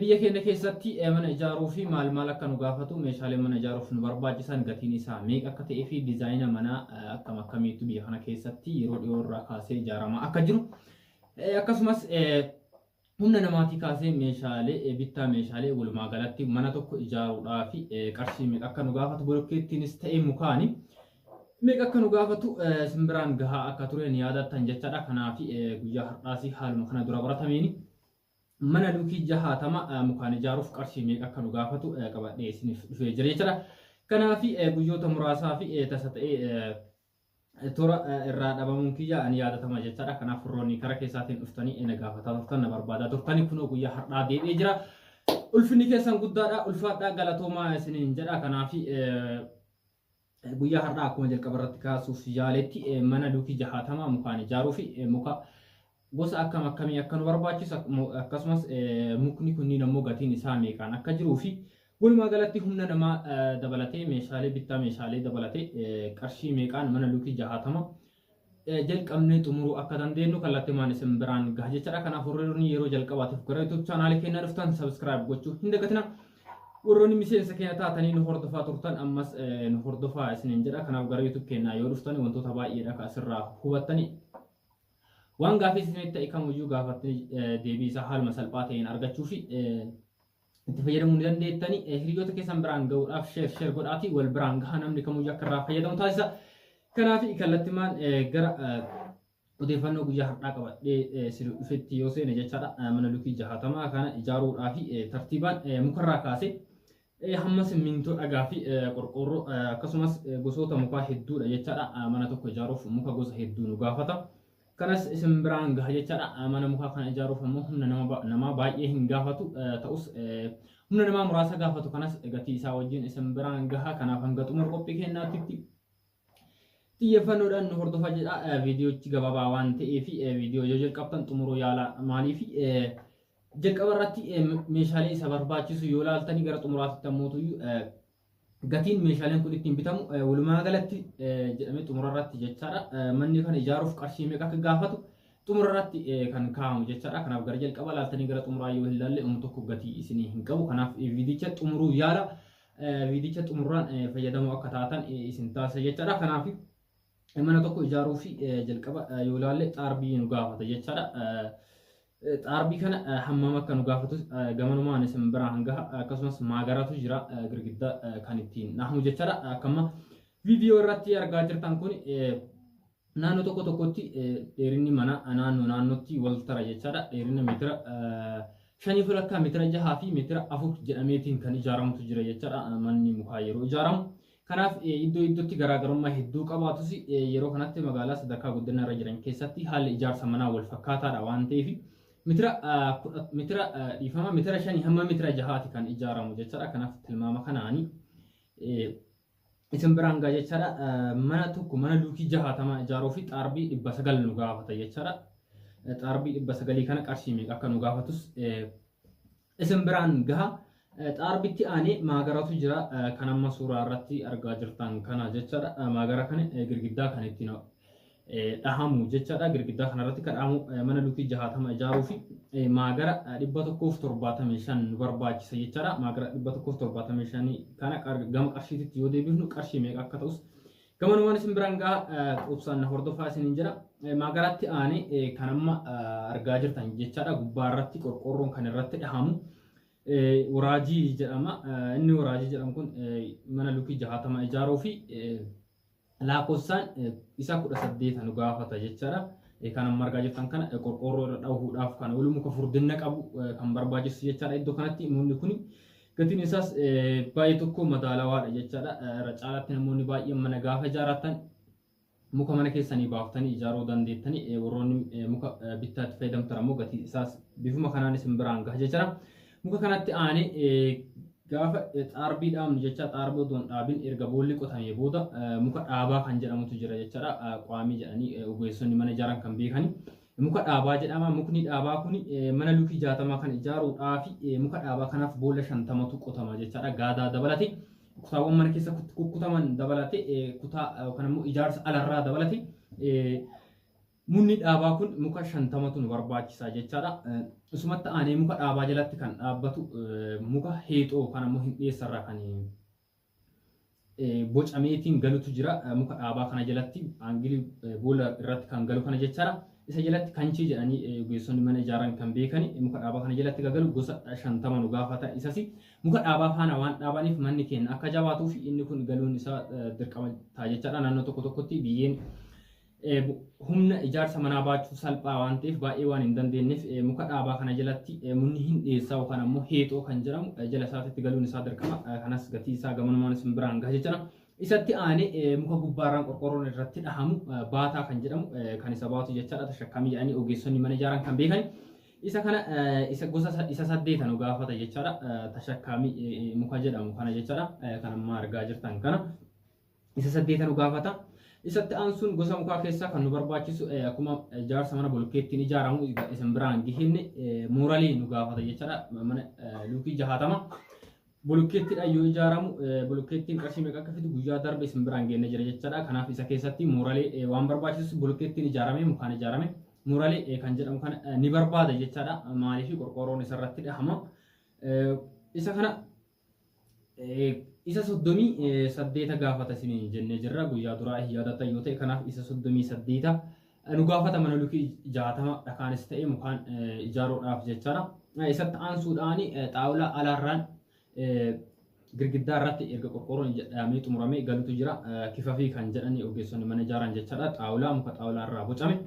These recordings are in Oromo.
Biyya keenya keessatti mana ijaaruu fi maal maal akka nu gaafatu meeshaalee mana ijaaruuf nu barbaachisan gatiin isaa meeqa akka ta'ee fi dizaayina manaa akkam akkamiitu biyya kana keessatti yeroo dhiyoo irraa kaasee ijaaramaa akka jiru akkasumas humna namaatii kaasee meeshaalee bittaa meeshaalee walumaa galatti mana tokko ijaaruudhaa fi qarshii meeqa akka nu gaafatu bolokkeettiinis ta'ee mukaani meeqa akka nu gaafatu simbiraan gahaa akka ture ni yaadattan jechaadha kanaaf guyyaa har'aas haaluma kana dura baratameen Mana luukii jahaatama mukaan ijaaruuf qarshii meeqa akka nu gaafatu qabadhee isiniif dhufee jira jechuudha. Kanaaf guyyoota muraasaa fi tasa ta'ee tura irraa dhabamuun kiyya ani yaadatama jechaadha. Kanaaf warroonni kara keessaatiin dhuftanii na gaafataa turtan na barbaadaa turtanii kunoo guyyaa har'aa deebi'ee jira. Ulfinni keessan guddaadha. Ulfaadhaa galatoomaa isiniin jedha. Kanaaf Guyyaa har'aa akkuma jalqaba irratti kaasuuf yaaletti mana duukii jahaatamaa mukaan ijaaruu fi muka gosa akkam akkamii akka nu barbaachisu akkasumas mukni kunniin ammoo gatiin isaa meeqaan akka jiruu fi walumaa galatti humna namaa dabalatee meeshaalee bittaa meeshaalee dabalatee qarshii meeqaan mana duukii jahaatama jalqabnee xumuruu akka dandeenyu kallattimaan isin biraan gaha jechaadha. Kanaaf warroonni yeroo jalqabaatiif gara YouTube chaanaalii keenya dhuftan subscribe gochuu hin dagatina. Warroonni miseensa keenya taatanii nu hordofaa turtan ammas nu hordofaa isiniin jedha. Kanaaf gara YouTube keenyaa yoo dhuftan wantoota baay'eedha kan asirraa hubattani. Waan gaafii isinitti ta'e kamiyyuu gaafattanii deebii isaa haaluma salphaa ta'een argachuu fi itti fayyadamuu ni dandeettani. Eh, Hiriyoota keessan biraan gahuudhaaf sheer sheer godhaatii wal biraan gahaa namni kamuu akka irraa fayyadamu taasisa. Kanaaf kallattimaan eh, gara eh, odeeffannoo guyyaa har'aa qabadhee eh, sirri dhufetti yoo seene jechaadha. Eh, Mana lukii jahaatamaa kana ijaaruudhaa fi eh, tartiibaan eh, mukarraa kaasee eh, hamma simmintoo dhagaa fi eh, qorqoorroo eh, akkasumas eh, gosoota mukaa hedduudha jechaadha. Eh, Mana tokko ijaaruuf muka gosa hedduu nu gaafata. kanas isin biraan gaha jechaadha. Eh, Mana mukaa kana ijaaruuf ammoo humna nama ba- namaa baay'ee hin gaafatu eh, ta'us eh, humna namaa muraasa gaafatu kanas gatii isaa wajjin isin biraan gaha kanaaf hanga xumura qophii keenyaatti xiyyeeffannoodhaan nu hordofaa jedha Eh, viidiyochi gabaabaa waan ta'eef eh, viidiyoo yoo jalqabdan xumuruu yaalaa maaliif eh, jalqaba irratti eh, meeshaalee isa barbaachisu yoo laaltanii gara xumuraatti ammoo Gatiin meeshaaleen kun ittiin bitamu walumaa galatti jedhamee xumura irratti jechaadha. Manni kana ijaaruuf qarshii meeqa akka gaafatu xumura irratti kan kaa'amu jechaadha. Kanaaf gara jalqaba laaltanii gara xumuraa yoo hin laalle umu tokko gatii isinii hin qabu. Kanaaf viidicha xumuruu yaala. Viidicha xumuraan fayyadamoo akka taatan isin taasisa jechaadha. Kanaaf Mana tokko ijaaruu fi jalqaba yoo ilaalle xaarbii nu gaafata jechaadha. Xaarbii kana hammam akka nu gaafatu gamanumaan isin biraa hanga akkasumas maagaraatu jira girgiddaa kan ittiin dhahamu jechaadha. Akkuma viidiyoo irratti argaa jirtan kun naannoo tokko tokkotti dheerinni mana naannoo naannootti wal tara jechaadha. Dheerina meetira shanii fi lakkaa meetira jahaa fi meetira afur jedhameetiin kan ijaaramutu jira jechaadha. Manni mukaa yeroo ijaaramu. Kanaaf iddoo iddootti garaagarummaa hedduu qabaatus yeroo kanatti magaalaa sadarkaa guddina irra jiran keessatti haalli ijaarsa manaa wal fakkaataadha waan ta'eef mitira mitira dhiifama mitira shanii hamma mitira jahaati kan ijaaramu jechaadha. Kanaaf tilmaama kanaani isin biraan gaa jechaadha. Mana tokko mana luukii jahaatamaa ijaaruu fi xaarbii dhibba sagal nu gaafata jechaadha. Xaarbii dhibba sagalii kana qarshii meeqa akka nu gaafatus isin biraan gaha. Xaarbitti aanee maagaratu jira kan amma suuraa irratti argaa jirtan kana jechaadha. Maagara kana girgiddaa kan ittiin dhahamu jechaadha. Girgiddaa kana irratti kan dhahamu mana lukii jahaatama ijaaruu fi maagara dhibba tokkoof torbaatamii shan nu barbaachisa jechaadha. Maagara dhibba tokkoof torbaatamii shan kana gama qarshiititti yoo deebifnu qarshii meeqa akka ta'us Gamanumaan isin biraan ga'a obsaan hordofaa isiniin jira. Maagaraatti aanee kan amma argaa jirtan jechaadha. Gubbaa irratti qorqoorroon kan irratti dhahamu waraajii jedhama. Inni waraajii jedhamu kun mana lukii jahaatama ijaaruu fi lakkoofsaan isa kudha saddeeta nu gaafata jechaadha. Kan amma argaa jirtan kana qorqoorroo irra dhahuudhaaf kan oolu muka furdinna qabu kan barbaachisu jechaadha. Iddoo kanatti mukni kun Gatiin isaas baay'ee tokko madaalawaadha jechaadha. Irra caalaatti namoonni baay'een mana gaafa ijaaratan muka mana keessanii baaftanii ijaaruu dandeettanii eh, warroonni eh, muka eh, bittaatti fayyadamtan ammoo gatii isaas bifuma kanaan isin biraan gaha jechaadha. Muka kanatti aanee eh, gaafa eh, xaarbii dhaabnu jecha xaarbii odoon dhaabin erga boolli qotamee booda eh, muka dhaabaa kan jedhamutu jira jechaadha. Eh, Qaamii jedhanii eh, ogeessonni mana ijaaran kan beekani. Muka dhaabaa jedhama. Mukni dhaabaa kun mana lukii 60 kan ijaaruudhaafi muka dhaabaa kanaaf boolla 50tu qotama jechaadha. Gaadaa dabalate kutaawwan mana keessa kukkutaman dabalate kutaa yookaan immoo ijaarsa alarraa dabalate mukni dhaabaa kun muka 50tu nu barbaachisa jechaadha. Isumatti aanee muka dhaabaa jalatti kan dhaabbatu muka heexoo yookaan immoo hindheessarraa kan bocameetiin galutu jira muka dhaabaa kana jalatti aangilii boolla irratti kan galu kana jechaadha. Isa jalatti kanchii jedhanii ogeessonni mana ijaaran kan beekan muka dhaabaa kana jalatti kan galu gosa shantama nu gaafata isasi muka dhaabaa faana waan dhaabaniif manni keenya akka jabaatuu fi inni kun galuun isaa dirqama ta'a jechaadha naannoo tokko tokkotti biyyeen Humna ijaarsa manaa baachuu salphaa waan ta'eef baay'ee waan hin dandeenyeef muka dhaabaa kana jalatti munni hin dhiyeessaa yookaan ammoo heexoo kan jedhamu jala isaatitti galuun isaa dirqama kanas gatii isaa gamanumaan isin biraan gaha jechuudha. Isatti aanee muka gubbaarraan qorqorroon irratti dhahamu baataa kan jedhamu kan isa baatu jechaadha tashakkaamii jedhanii ogeessonni mana ijaaran kan beekan. Isa kana isa gosa isa saddeeta nu gaafata jechaadha tashakkaamii muka jedhamu kana jechaadha kan amma argaa jirtan kana. isa saddeeta nu gaafata. Isatti aansuun gosa mukaa keessaa kan nu barbaachisu eh, akkuma eh, jaarsa mana bolokkeettiin ijaaramu iga- isin biraan gihinne eh, muuralii nu gaafata jechaadha. Mana eh, luukii jahaatama. Bolokkeettiidhaan yoo ijaaramu eh, bolokkeettiin qarshii meeqa akka fidu guyyaa darbe isin biraan geenne jira jechaadha. Kanaaf isa keessatti muuralee eh, waan barbaachisu bolokkeettiin ijaarame mukaan ijaarame muuralee eh, kan jedhamu kana eh, ni barbaada jechaadha. Maaliif qorqoorroon isarratti dhahama. Eh, Isa kana Isa soddomii saddeeta gaafata isiniin jennee jirra. Guyyaa duraa hin yaadatan yoo ta'e kanaaf isa soddomii saddeeta nu gaafata mana lukii jaatama dhakaanis ta'e mukaan ijaaruudhaaf jechaadha. Isatti aansuudhaan xaawulaa alaarraan girgiddaa irratti erga qorqoorroon jedhamee xumuramee galutu jira. Kifafii kan jedhanii ogeessonni mana ijaaran jechaadha. Xaawulaa muka xaawulaa irraa bocame.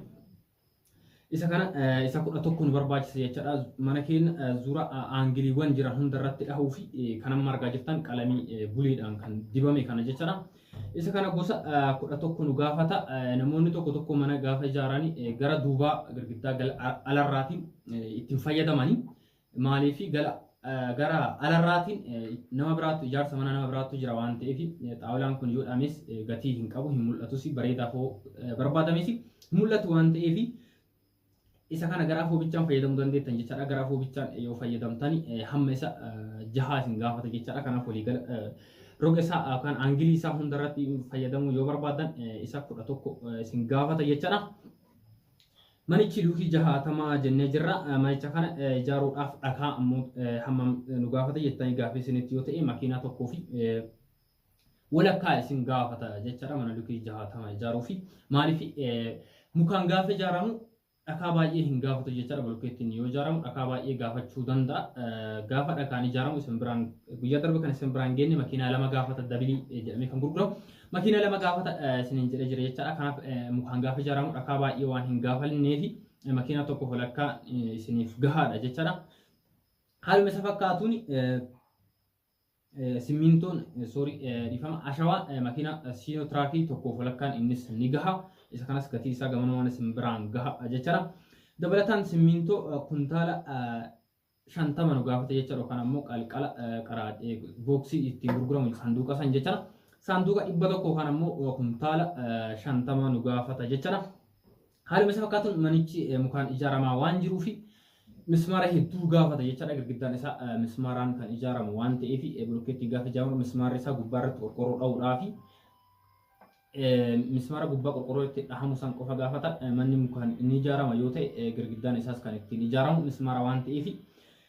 Isa kana isa kudha tokko nu barbaachisa jechaadha. Mana keenya zura aangiliiwwan jiran hunda irratti dhahuu fi kan amma argaa jirtan qalamii buliidhaan kan dibame kana jechaadha. Isa kana gosa kudha tokko nu gaafata. Namoonni tokko tokko mana gaafa ijaaranii gara duubaa girgiddaa alarraatiin ittiin fayyadamanii Maaliif gala gara alarraatiin nama biraattu ijaarsa mana nama biraattu jira waan ta'eef xaawulaan kun yoo dhames gatii hin qabu hin mul'atus bareedaa foo barbaadames hin mul'atu waan ta'eef isa kana gara afoo bichaan fayyadamuu dandeettan jechaadha gara afoo bichaan yoo fayyadamtan hamma isa jahaa isin gaafata jechaadha kanaaf walii gala roga isaa yookaan aangilii isaa hundarratti fayyadamuu yoo barbaadan isa kudha tokko isin gaafata jechaadha. Manichi luukii jahaatama jennee jirra. Manicha kana ijaaruudhaaf dhakaa ammoo hammam nu gaafata jettanii gaaffii isinitti yoo ta'e makiinaa tokkoo fi walakkaa isin gaafata jechaadha mana luukii jahaatama ijaaruu fi maaliif mukaan gaafa ijaaramu dhakaa baay'ee hin gaafatu jechaadha bulkeettiin yoo ijaaramu dhakaa baay'ee gaafachuu danda'a. Gaafa dhakaan ijaaramu isin biraan guyyaa darbe kan isin biraan geenne makiinaa lama gaafata dabilii jedhamee kan gurguramu Makiina lama gaafata isiniin jedhee jira jechaadha. Kanaaf mukaan gaafa ijaaramu dhakaa baay'ee waan hin gaafanneefi makiina tokko holakkaa isiniif gahaadha jechaadha. Haaluma isa fakkaatuun simmiintoon soorii dhiifama ashawaa makiina siinoo tiraakii tokkoof walakkaan innis ni gaha. Isa kanas gatii isaa gamanuma mana simbiraan gaha jechaadha. Dabalataan simmiintoo kuntaala shantama nu gaafata jecha yookaan ammoo qalqala qaraa booksii ittiin gurguramu saanduuqa san jecha saanduuqa dhibba tokko yookaan ammoo kuntaala shantama nu gaafata jecha haaluma isa fakkaatuun manichi mukaan ijaaramaa waan jiruu fi mismaara hedduu gaafata jechaadha girgiddaan isaa mismaaraan kan ijaaramu waan ta'eef bulokkeetti gaafa ijaaramu mismaarri isaa gubbaa irratti qorqorroo dha'uudhaa fi Mismaara gubbaa qorqorroon itti dhahamu san qofa gaafata. Manni mukaan ni ijaarama yoo ta'e girgiddaan isaas kan ittiin ijaaramu mismaara waan ta'eef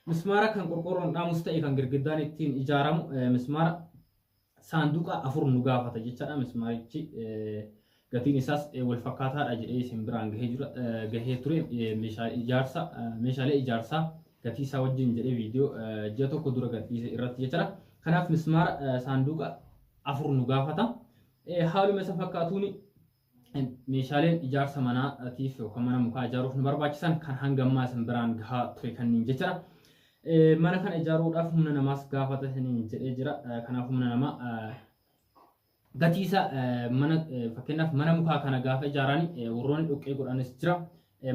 mismaara kan qorqorroon dhaamus ta'e kan girgiddaan ittiin ijaaramu mismaara saanduqa afur nu gaafata jechaadha. Mismaarichi gatiin isaas wal fakkaataadha jedhee isin biraan gahee jira gahee ture meeshaa ijaarsa meeshaalee ijaarsaa gatii isaa wajjin jedhee viidiyoo ji'a tokko dura gadhiise irratti jechaadha. Kanaaf mismaara saanduqa afur nu gaafata. Eh, Haaluma isa fakkaatuun eh, meeshaaleen ijaarsa manaatiif yookaan mana mukaa ijaaruuf nu barbaachisan kan hanga ammaa isin biraan gahaa ture kanneen jechuudha. Eh, Mana kana ijaaruudhaaf humna namaas gaafata isiniin jedhee jira. Eh, Kanaaf humna namaa eh, gatii isaa eh, mana eh, fakkeenyaaf mana mukaa kana gaafa ijaarani eh, warroonni dhoqqee godhanis jira.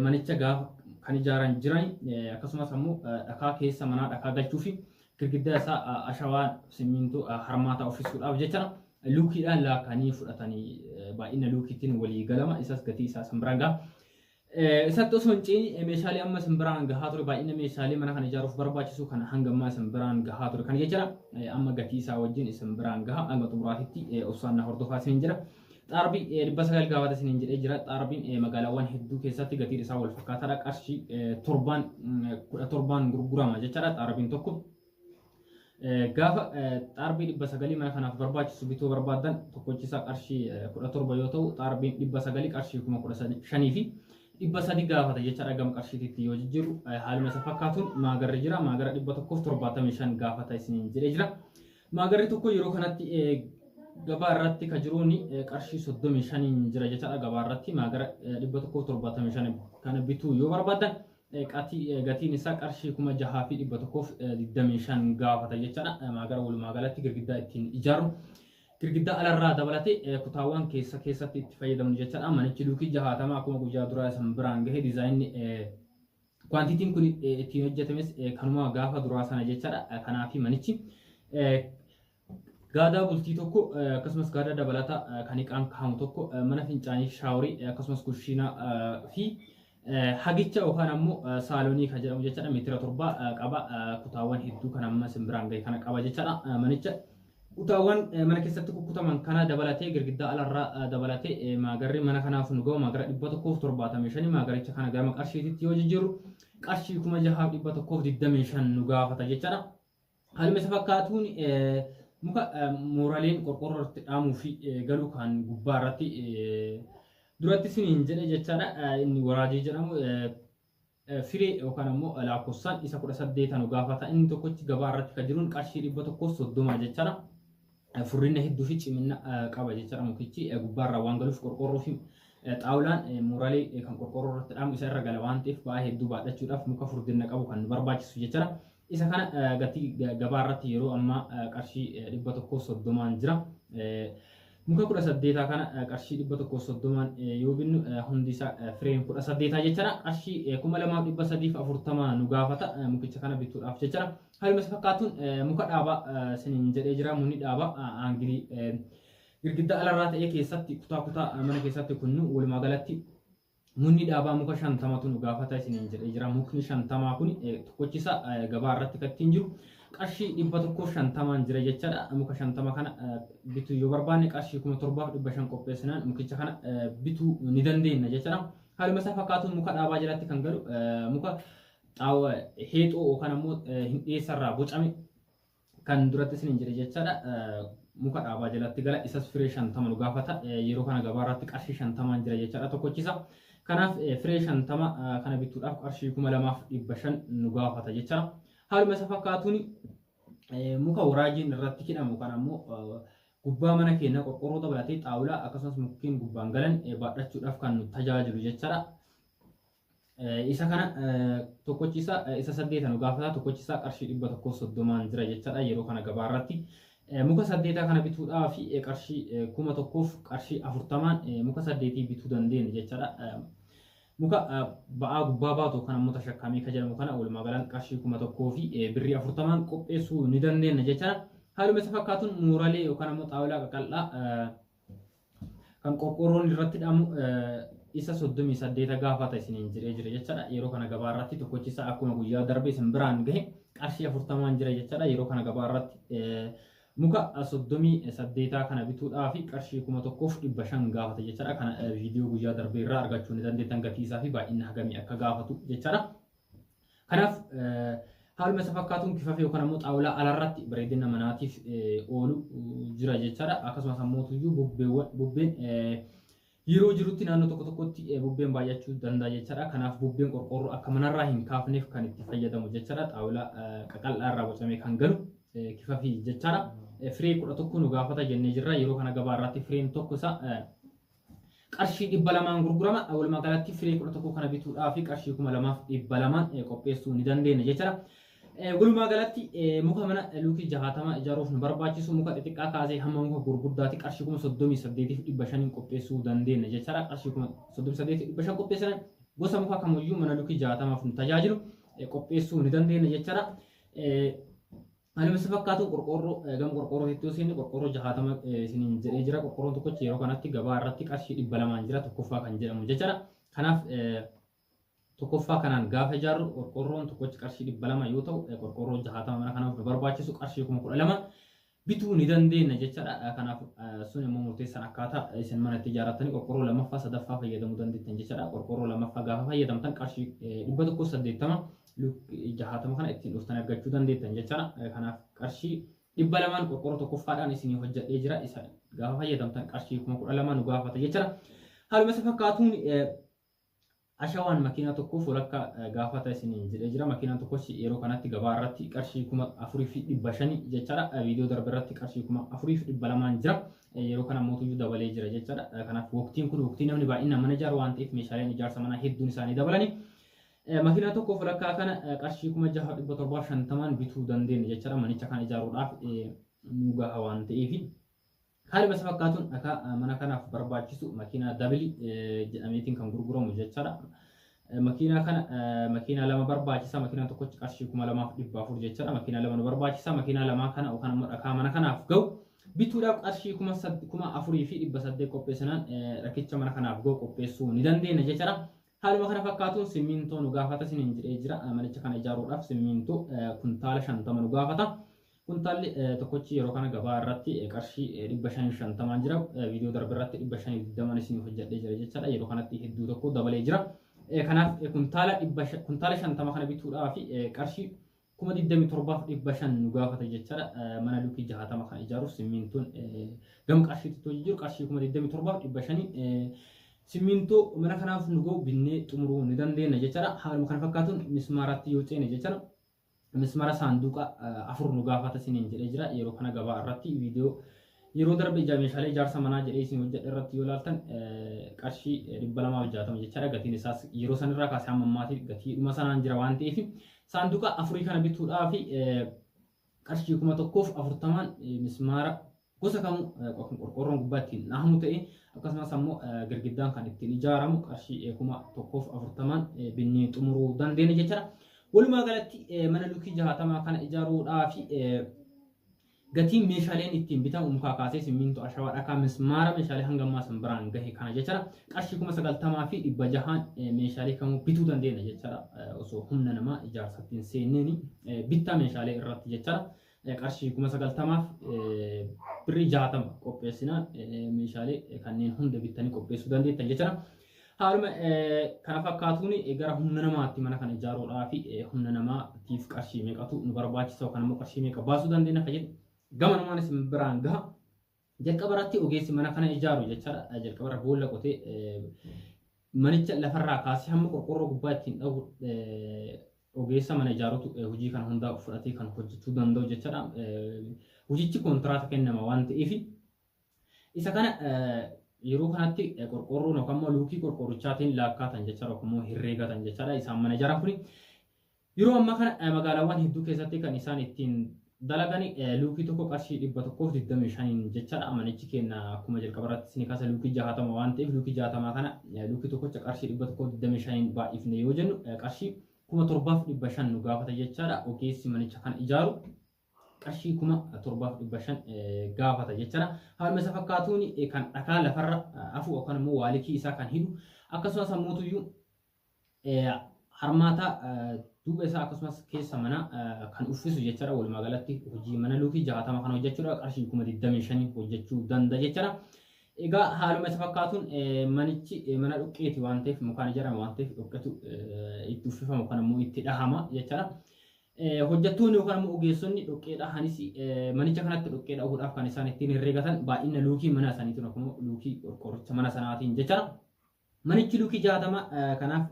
manicha gaafa kan ijaaran jiran akkasumas ammoo dhakaa keessa manaa dhakaa galchuu fi girgiddaa isaa ashawaa simmiintoo harmaataa uffisuudhaaf jecha luukiidhaan laakanii fudhatanii baay'ina luukiitiin walii galama isas gatii isaa simbiraan gaha. Isatti osoo hin ceene meeshaalee amma simbiraan gahaa ture baay'ina meeshaalee mana kana ijaaruuf barbaachisu kana hanga ammaa simbiraan gahaa ture kana jechuudha. Amma gatii isaa wajjin simbiraan gaha hanga xumuraatitti obsaan na hordofaa isin jira. Xaarbi 900 gaafata isiniin jedhee jira. Xaarbiin magaalaawwan hedduu keessatti gatiin isaa wal fakkaataadha. Qarshii torbaan kudha torbaan gurgurama jechaadha xaarbiin tokko. Gaafa xaarbii dhibba sagalii mana kanaaf barbaachisu bituu barbaadan tokkochi isaa qarshii kudha torba yoo ta'u xaarbiin dhibba sagalii qarshii kuma kudha shanii fi dhibba sadi gaafata jechaadha gama qarshiititti yoo jijjiiru haaluma isa fakkaatuun maagarri jira maagara dhibba tokkoof torbaatamii shan gaafata isiniin jedhee jira. Maagarri tokko yeroo kanatti gabaa irratti ka jiruun qarshii 35 jira jechaadha gabaa irratti maagara 175 kana bituu yoo barbaadan gatiin isaa qarshii 6125 gaafata jechaadha maagara walumaa galatti girgiddaa ittiin ijaaru girgiddaa alarraa dabalatee kutaawwan keessa keessatti itti fayyadamnu jechaadha manichi luukii jahaatamaa akkuma guyyaa duraa isan biraan gahe diizaayinni Kwantitiin kun ittiin hojjetames kanuma gaafa duraa sana jechaadha. Kanaaf manichi gaadaa bultii tokko akkasumas gaadaa dabalataa kan iqaan kaa'amu tokko mana fincaanii shaaworii akkasumas kushiinaa fi hagicha yookaan ammoo saalonii kan jedhamu jechaadha meetira torba qaba kutaawwan hedduu kan amma simbiraan gahe kana qaba jechaadha manicha. Kutaawwan mana keessatti kukkutaman kana dabalatee girgiddaa alarraa dabalatee maagarri mana kanaaf nu ga'u maagara 175 maagaricha kana gama qarshiititti yoo jijjiirru qarshii 6125 nu gaafata jechaadha. Haaluma isa fakkaatuun muka mooraleen qorqorroo irratti dhaamuu fi galuu kan gubbaa irratti duratti siniin jedhe jechaadha inni waraajii jedhamu Firee yookaan ammoo laakkofsaan isa 18 nu gaafata. Inni tokkochi gabaa irratti kan jiruun qarshii 130 jechaadha. Furrina hedduu fi cimina qaba jechaadha mukichi gubbaarraa waan galuuf qorqoorroo fi xaawulaan muuralee kan qorqoorroo irratti dhaamu isa irra gala waan ta'eef ba'aa hedduu baadhachuudhaaf muka furdinna qabu kan nu barbaachisu jechaadha. Isa kana gatii gabaa irratti yeroo ammaa qarshii dhibba tokkoo soddomaan jira. Muka kudha saddeetaa kana qarshii dhibba tokkoo soddomaan yoo binnu hundi isaa fireem kudha saddeetaa jechaadha. Qarshii kuma lamaaf dhibba sadiif afurtama nu gaafata mukicha kana bituudhaaf jechaadha. Haaluma isa fakkaatuun muka dhaabaa siniin jedhee jira munni dhaabaa aangilii girgiddaa alarraa ta'ee keessatti kutaa kutaa mana keessatti kunnu walumaa galatti Munni dhaabaa muka shantamatu nu gaafata isiniin jedhee jira. Mukni shantamaa kun tokkochisa gabaa irratti kan ittiin jiru qarshii dhibba tokkoo shantamaan jira jechaadha. Muka shantama kana bituu yoo barbaanne qarshii kuma torbaaf dhibba shan qopheessinaan mukicha kana bituu ni dandeenya jechaadha. Haaluma isaa fakkaatuun muka dhaabaa jalatti kan galu muka xaawa heexoo yookaan ammoo hindheessarraa bocame kan duratti isiniin jedhe jechaadha muka dhaabaa jalatti gala isas firee shantama nu gaafata yeroo kana gabaa irratti qarshii shantamaan jira jechaadha tokkochisa kanaaf firee shantama kana bituudhaaf qarshii kuma lamaaf dhibba shan nu gaafata jechaadha haaluma isa fakkaatuun muka waraajiin irratti hidhamu kan ammoo gubbaa mana keenya qorqorroo dabalatee xaawulaa akkasumas mukkeen gubbaan galan baadhachuudhaaf kan nu tajaajilu jechaadha. Isa kana tokkochi isa isa saddeeta nu gaafata tokkochi isaa qarshii dhibba tokkoo soddomaan jira jechaadha yeroo kana gabaa irratti. Muka saddeetaa kana bituudhaa fi qarshii kuma tokkoof qarshii afurtamaan muka saddeetii bituu dandeenya jechaadha. Muka ba'aa gubbaa baatu kan ammoo tashakkaamee kan jedhamu kana walumaa galaan qarshii kuma tokkoo fi birrii afurtamaan qopheessuu ni dandeenya jechaadha. Haaluma isa fakkaatuun muuralee yookaan ammoo xaawulaa qaqal'aa kan qorqoorroon irratti dhamu isa 38 gaafata isiniin jiree jira jechaadha yeroo kana gabaa irratti tokkochi isaa akkuma guyyaa darbe isin biraan gahe qarshii 40n jira jechaadha yeroo kana gabaa irratti muka 38 kana bituudhaaf qarshii 1500 gaafata jechaadha kana viidiyoo guyyaa darbe irraa argachuu ni dandeettan gatii isaa fi baay'inni hagamii akka gaafatu jechaadha. Kanaaf haaluma isa fakkaatuun kifafee yookaan ammoo xaawulaa alarratti bareedina manaatiif oolu jira jechaadha. Akkasumas ammoo tuyyuu bubbeewwan bubbeen yeroo jirutti naannoo tokko tokkotti bubbeen baay'achuu danda'a jechaadha. Kanaaf bubbeen qorqoorroo akka manarraa hin kaafneef kan itti fayyadamu jechaadha. Xaawulaa qaqal'aa irraa bocamee kan galu kifafii jechaadha. Firee kudha tokko nu gaafata jennee jirra. Yeroo kana gabaa irratti fireen tokko isaa qarshii 200n gurgurama. Walumaa galatti firii 11 kana bituudhaaf qarshii 2200 qopheessuu ni dandeenya jechuudha. Walumaa galatti muka mana luukii 60 ijaaruuf nu barbaachisu muka xixiqqaa kaasee hamma muka gurguddaatti qarshii 38,500 qopheessuu dandeenya jechuudha. Qarshii 38,500 qopheessina gosa muka kamiyyuu mana luukii 60f nu tajaajilu qopheessuu ni dandeenya jechuudha. Anuma si fakkaatu qorqoorroo gama qorqoorroo hedduu isin qorqoorroo jahaatama isiniin jedhee jira qorqoorroon tokkochi yeroo kanatti gabaa irratti qarshii dhibba lamaan jira tokkoffaa kan jedhamu jechaadha. Kanaaf tokkoffaa kanaan gaafa ijaarru qorqoorroon tokkochi qarshii dhibba lama yoo ta'u qorqoorroo jahaatama mana kanaaf nu barbaachisu qarshii kuma kudha lama bituu ni dandeenya jechaadha. Kanaaf sun immoo murteessan akkaataa isin mana itti ijaarrattanii qorqoorroo lammaffaa sadaffaa fayyadamuu dandeettan jechaadha. Qorqoorroo lammaffaa gaafa fayyadamtan qarshii dhibba tokko saddeettama luk jahaatama kana ittiin dhuftan argachuu dandeettan jechaadha. Kanaaf qarshii dhibba lamaan qorqoorroo tokkoffaadhaan isinii hojjedhee jira. Isa gaafa fayyadamtan qarshii kuma kudha lama nu gaafata jechaadha. Haaluma isa fakkaatuun ashawaan makiinaa tokkoof walakkaa gaafata isiniin jedhee jira. Makiinaan tokkos yeroo kanatti gabaa irratti qarshii kuma afurii fi dhibba shani jechaadha. Viidiyoo darbe irratti qarshii kuma afurii fi dhibba lamaan jira. Yeroo kana mootuyyuu dabalee jira jechaadha. Kanaaf waqtiin kun waqtii namni baay'inaan mana ijaaru waan ta'eef meeshaaleen ijaarsa manaa hedduun isaanii dabalanii. Makiinaa tokkoof walakkaa kana qarshii kuma jaha dhibba torbaa shantamaan bituu dandeenya jechaadha manicha kana ijaaruudhaaf nu gaha waan ta'eef. Haaluma isa fakkaatuun dhakaa mana kanaaf barbaachisu makiinaa dabili jedhameetiin kan gurguramu jechaadha. Makiinaa kana makiinaa lama barbaachisa makiinaa tokkochi qarshii kuma lamaaf dhibba afur jechaadha makiinaa lama nu barbaachisa makiinaa lamaa kana yookaan immoo dhakaa mana kanaaf ga'u bituudhaaf qarshii kuma kuma afurii fi dhibba saddeet qopheessinaan rakkicha mana kanaaf ga'u qopheessuu ni dandeenya jechaadha. Haaluma kana fakkaatuun simmiintoo nu gaafata isiniin jedhee jira. Manicha kana ijaaruudhaaf simmiintoo kuntaala 50 nu gaafata. Kuntaalli tokkochi yeroo kana gabaa irratti qarshii 550 jira. Viidiyoo darbe irratti 520 isiniif hojjedhee jira jechaadha. Yeroo kanatti hedduu tokko dabalee jira. Kanaaf kuntaala 50 kana bituudhaaf qarshii kuma 27f 500 nu gaafata jechaadha. Mana luukii 60 kan ijaaruuf simmiintoon gama qarshiitti too jijjiiru qarshii kuma 27f 500 simmiintoo mana kanaaf nu ga'u binnee xumuruu ni dandeenya jechaadha. Haaluma kana fakkaatuun mismaaratti yoo ceene jechaadha. Mismaara saanduuqa afur nu gaafata siniin jedhee jira. Yeroo kana gabaa irratti viidiyoo Yeroo darbe ija meeshaalee ijaarsa manaa jedhee isin hojjedhe irratti yoo ilaaltan qarshii 260 jechaadha gatiin isaas yeroo sanirraa kaasee amma ammaati gatiidhuma sanaan jira waan ta'eef saanduqa afurii kana bituudhaa fi qarshii kuma tokkoof afurtamaan mismaara gosa kamuu kan qorqoorroon gubbaa ittiin dhahamu ta'e akkasumas ammoo girgiddaan kan ittiin ijaaramu qarshii kuma tokkoof afurtamaan binnee xumuruu dandeenya jechaadha. Walumaa galatti mana lukii jahaatamaa kana ijaaruudhaa fi Gatiin meeshaaleen ittiin bitamu mukaa kaasee simmiintoo ashawaa dhakaa mismaara meeshaalee hanga ammaa san biraan gahe kana jechaadha. Qarshii kuma sagaltamaa fi dhibba jahaan meeshaalee kamuu bituu dandeenya jechaadha. Osoo humna namaa ijaarsatti hin seenneeni bittaa meeshaalee irratti jechaadha. Qarshii kuma sagaltamaaf birrii jaatama qopheessina meeshaalee kanneen hunda bittanii qopheessuu dandeettan jechaadha. Haaluma kana fakkaatuun gara humna namaatti mana kana ijaaruudhaaf humna namaatiif qarshii meeqatu nu barbaachisa yookaan immoo qarshii meeqa baasuu dandeenya akka jedhu gama namaan isin biraan gaha. Jalqaba irratti ogeessi mana kana ijaaru jechaadha. Jalqaba irra boolla qotee manicha lafarraa kaasee hamma qorqorroo gubbaa ittiin dhahu ogeessa mana ijaarutu hojii kana hundaa fudhatee kan hojjechuu danda'u jechaadha. Hojichi kontiraata kennama waan ta'eef Isa kana yeroo kanatti qorqoorroon yookaan immoo luukii qorqoorrichaatiin laakkaatan jechaadha yookaan immoo herreegatan jechaadha. Isaan mana jaraa kuni yeroo ammaa kana magaalaawwan hedduu keessatti kan isaan ittiin dalagan luukii tokko qarshii dhibba tokkoof digdamii shaniin jechaadha. Manichi keenya akkuma jalqaba irratti isin kaasa luukii jahatama waan ta'eef luukii jahatamaa kana luukii tokkocha qarshii dhibba tokkoof digdamii shaniin baay'ifne yoo jennu qarshii kuma torbaaf dhibba shan nu gaafata jechaadha. Ogeessi manicha kana ijaaru qarshii kuma torbaaf dhibba shan gaafata jechuudha. Haaluma isa fakkaatuun kan dhakaa lafarra hafu yookaan immoo waalikii isaa kan hidhu akkasumas ammoo harmaata duuba isaa akkasumas keessa mana kan uffisu jechuudha. Walumaa galatti hojii mana luukii jaatama kan hojjechuudha. Qarshii kuma digdamii shanii hojjechuu danda'a jechuudha. Egaa haaluma isa fakkaatuun manichi mana dhoqqeeti waan ta'eef mukaan ijaarame waan ta'eef dhoqqetu itti uffifama yookaan immoo itti dhahama jechuudha. Hojjettoonni yookaan ammoo ogeessonni dhoqqee dhahanis manicha kanatti dhoqqee dhahuudhaaf kan isaan ittiin herregatan baay'ina luukii mana isaaniitiin yookaan luukii qorqoorricha mana sanaatiin jecha manichi luukii jaatama kanaaf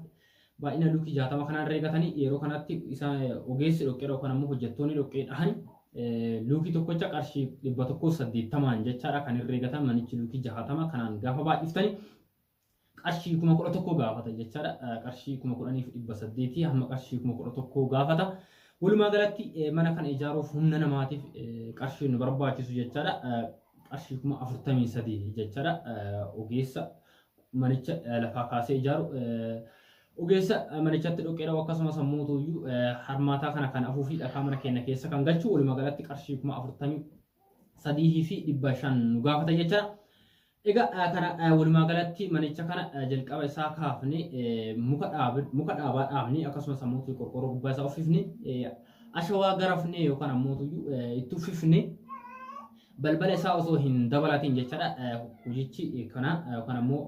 baay'ina luukii jaatama kanaan herregatanii yeroo kanatti isaan ogeessi dhoqqee yookaan ammoo hojjettoonni dhoqqee dhahan luukii tokkocha qarshii dhibba tokkoo saddeettamaan jechaadha kan herregatan manichi luukii jaatama kanaan gaafa baay'iftanii qarshii kuma kudha tokko gaafata jechaadha. Qarshii kuma kudhaniif dhibba saddeetii hamma qarshii kuma kudha tokko gaafata. Walumaa galatti mana kana ijaaruuf humna namaatiif qarshii nu barbaachisu jechaadha. Qarshii kuma afurtamii sadii jechaadha. Ogeessa manicha lafaa kaasee ijaaru. Ogeessa manichatti dhoqqeedha akkasumas ammoo tuyyuu harmaataa kana kan afuu fi dhakaa mana keenya keessa kan galchu walumaa galatti qarshii kuma afurtamii sadii fi dhibba shan nu gaafata jechaadha. Egaa kana walumaa galatti manicha kana jalqaba isaa kaafne muka dhaabne muka dhaabaa dhaabne akkasumas ammoo qorqoorroo gubbaa isaa uffifne ashawaa garafne yookaan ammoo itti uffifne balbala isaa osoo hin dabalatiin jechaadha hojichi kana yookaan ammoo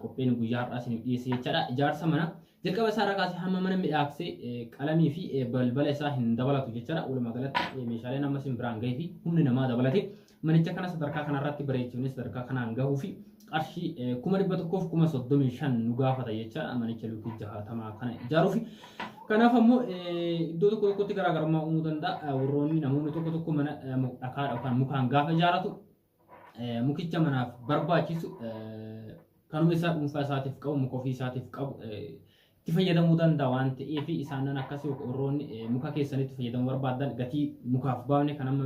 qophiin guyyaa har'aa isin dhiyeesse jechaadha ijaarsa mana Jalqaba isaa irraa kaasee hamma mana midhaagsee qalamii fi balbala isaa hin dabalatu jechaadha. Walumaa galatti meeshaaleen amma isin biraan gahee fi humni namaa dabalate manicha kana sadarkaa kanarratti bareechifnee sadarkaa kanaan gahuu fi qarshii kuma dhibba tokkoo fi kuma soddomii shan nu gaafata jechaadha manicha lukkii jahaatamaa kana ijaaruuf. Kanaaf ammoo iddoo tokko tokkotti garaagarummaa uumuu danda'a. Warroonni namoonni tokko tokko mana dhakaa yookaan mukaan gaafa ijaaratu Eh, mukicha manaaf barbaachisu eh, kanuma isaa dhuunfaa isaatiif qabu muka ofii isaatiif qabu eh, itti fayyadamuu danda'a waan ta'eef isaanan akkasii warroonni eh, muka keessanitti fayyadamuu barbaadan gatii mukaaf baafne kan amma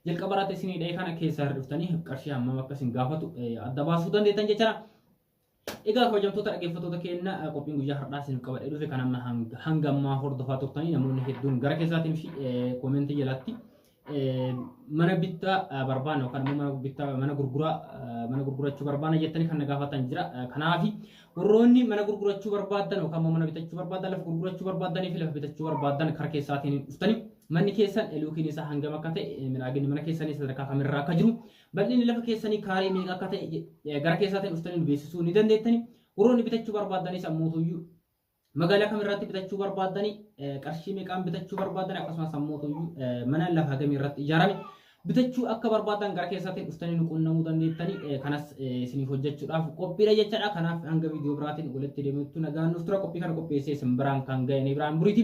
jalqaba irratti isinii dha'e kana keessaa hir'iftanii qarshii hammam akka isin gaafatu eh, adda baasuu dandeettan jechaadha. Egaa kabajamtoota dhaggeeffattoota keenya qophiin guyyaa har'aa isin qabadhee dhufe kan amma hanga ammaa hordofaa turtanii namoonni hedduun gara keessaatiin fi koomentii jalatti mana bittaa barbaanna yookaan immoo mana bittaa mana gurguraa mana gurgurachuu barbaanna jettanii kan na gaafatan jira. Kanaaf warroonni mana gurgurachuu barbaadan yookaan immoo mana bitachuu barbaadan lafa gurgurachuu barbaadanii fi lafa bitachuu barbaadan kara keessaatiin dhuftanii manni keessan eluukiin isaa hangam akka ta'e midhaaginni mana keessanii sadarkaa kamirraa akka jiru Bal'inni lafa keessanii kaaree meeqa akka ta'e gara keessaatiin dhuftanii nu beeksisuu ni dandeettani. Warroonni bitachuu barbaaddanis ammootuyyuu magaalaa kam irratti bitachuu barbaaddani qarshii meeqaan bitachuu barbaaddani akkasumas ammootuyyuu mana lafa hagamii irratti ijaarame bitachuu akka barbaaddan gara keessaatiin dhuftanii nu qunnamuu dandeettani kanas isiniif hojjechuudhaaf qophiidha jechaadha. Kanaaf hanga viidiyoo biraatiin walitti deemuutti nagaan nuuf tura qophii kana qopheessee isin biraan kan ga'e ni biraan buriiti.